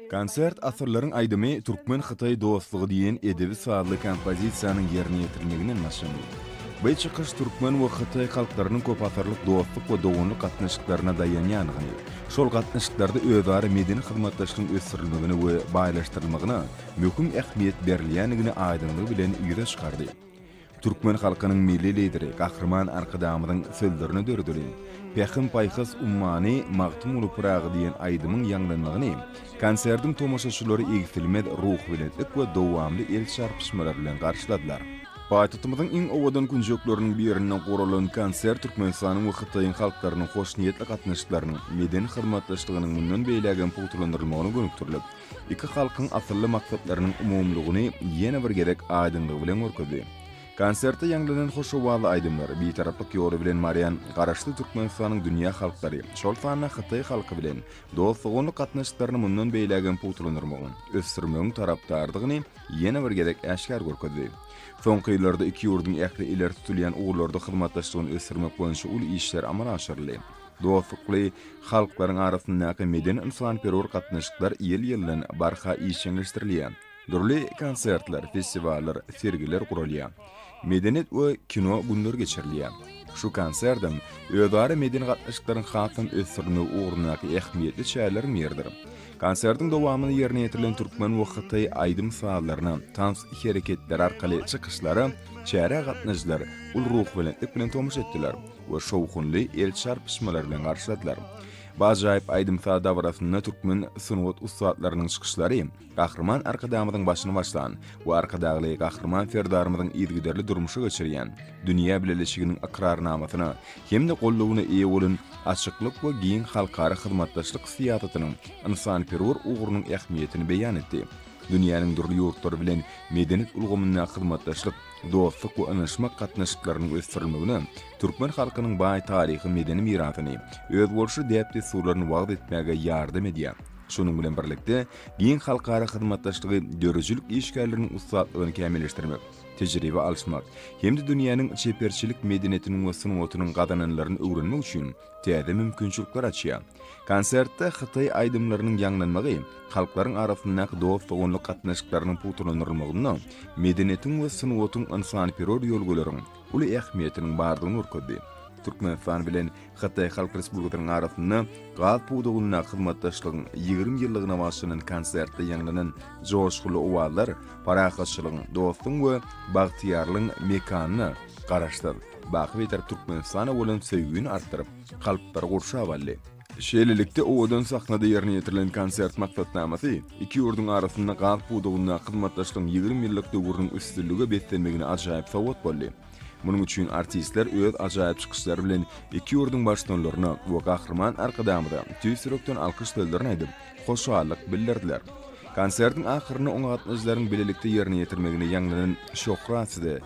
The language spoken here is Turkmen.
Konsert Asyrlaryň aýdymy türkmen-hytaý dostlugy diýen edebi-sazly kompozisiýanyň ýerine ýetirilmeginden başlandy. Bu çykyş türkmen we hytaý halklarynyň köpasyrlyk dostluk we doganlyk gatnaşyklaryna daýanýandygyny, şol gatnaşyklarda özara medeni hyzmatdaşlygyň ösdürilmegine we baýlaşdyrylmagyna möhüm ähmiýet berilýändigini aýdyňlygy bilen ýüze çykardy. Türkmen halkynyň Milli Lideri Gahryman Arkadagymyzyň sözlerine döredilen Pähim-paýhas ummany Magtymguly Pyragy diýen aýdymyň ýaňlanmagyny konsertiň tomaşaçylary egsilmez ruhubelentlik we dowamly el çarpyşmalar bilen garşyladylar. Paýtagtymyzyň iň owadan künjekleriniň birinde guralan konsert Türkmenistanyň we Hytaýyň halklarynyň hoşniýetli gatnaşyklarynyň, medeni hyzmatdaşlygynyň mundan beýlägem pugtalandyrylmagyna gönükdirilip, iki halkyň asylly maksatlarynyň umumylygyny ýene bir gezek aýdyňlygy bilen görkezdi. Konsertde ýaňlanan hoş owazly aýdymlar, Bitaraplyk ýoly bilen barýan Garaşsyz Türkmenistanyň dünýä halklary, şol sanda hytaý halky bilen dost-doganlyk gatnaşyklaryny mundan beýlägem pugtalandyrmagyň, ösdürmegiň tarapdarydygyny ýene bir gezek äşgär görkezdi. Soňky ýyllarda iki ýurduň ähli ileri tutulýan ugurlarda hyzmatdaşlygyny ösdürmek boýunça uly işler amala aşyryldy. Dostlukly halklaryň arasyndaky medeni-ynsanperwer gatnaşyklar ýyl-ýyldan barha işjeňleşdirilýär. Dürli konsertler, festiwallar, sergiler guralýar. Medeniýet we kino günleri geçirilýär. Şu konsertem özara medeni gatnaşyklaryň hasam ösdürilmegi ugrundaky ähmiýetli çäreleriň biridir. Konsertiň dowamynda ýerine ýetirilen türkmen we hytaý aýdym-sazlaryny, tans hereketleri arkaly çykyşlara çärä gatnaşyjylar uly ruhubelentlik bilen tomaşa etdiler. we şowhunly el çarpyşmalar bilen garşyladylar. Bu ajaýyp aýdym-saz dabarasynda türkmen sungat ussatlarynyň çykyşlary Gahryman Arkadagymyzyň başyny başlan we Arkadagly Gahryman Serdarymyzyň yzygiderli durmuşa geçirýän dünýä bileleşiginiň ykrarnamasyna hem-de goldawyna eýe bolan açyklyk we giň halkara hyzmatdaşlyk syýasatynyň ynsanperwer ugrunyň ähmiýetini beýan etdi. Dünýäniň dürli ýurtlary bilen medeniýet ulgamynda hyzmatdaşlyk dostluk we ynyşmak gatnaşyklarynyň ösdürilmegine, türkmen halkynyň baý taryhy-medeni mirasyny, özboluşly däp-dessurlaryny wagyz etmäge ýardam edýär. Şonuň bilen birlikde, giň halkara hyzmatdaşlygy döredijilik işgärleriniň ussatlygyny kämilleşdirmek, tejribe alyşmak hem-de dünýäniň çeperçilik medeniýetiniň we sungatynyň gazananlaryny öwrenmek üçin täze mümkinçilikler açýar. Konsertde hytaý aýdymlarynyň ýaňlanmagy halklaryň arasyndaky dost-doganlyk gatnaşyklarynyň pugtalandyrylmagynda medeniýetiň we sungatyň ynsanperwer ýörgüleriň uly ähmiýetiniň bardygyny görkezdi. Türkmenistan bilen Hytaý Halk Respublikasynyň arasynda gaz pudagynda hyzmatdaşlygyň ýigrimi ýyllygyna bagyşlanan konsertde ýaňlanan joşgunly owazlar parahatçylygyň, dostuň we bagtyýarlygyň mekanyna Garaşsyz, baky beter Türkmenistana bolan söýgini artdyryp, kalplary gurşap aldy. Şeýlelikde, owadan sahnada ýerine ýetirilen konsert maksatnamasy iki ýurduň arasynda gaz pudagyndaky hyzmatdaşlygyň ýigrimi ýyllyk döwrüniň üstünlige beslenmegine ajaýyp sowgat boldy. Munuň üçin artistler öz ajaýyp çykyşlary bilen iki ýurduň Baştutanlaryna we Gahryman Arkadagymyza tüýs ýürekden alkyş sözlerini aýdyp, hoşallyk bildirdiler. Konsertiň ahyrynda oňa gatnaşyjylaryň bilelikde ýerine ýetirmeginde ýaňlanan Şöhrat size!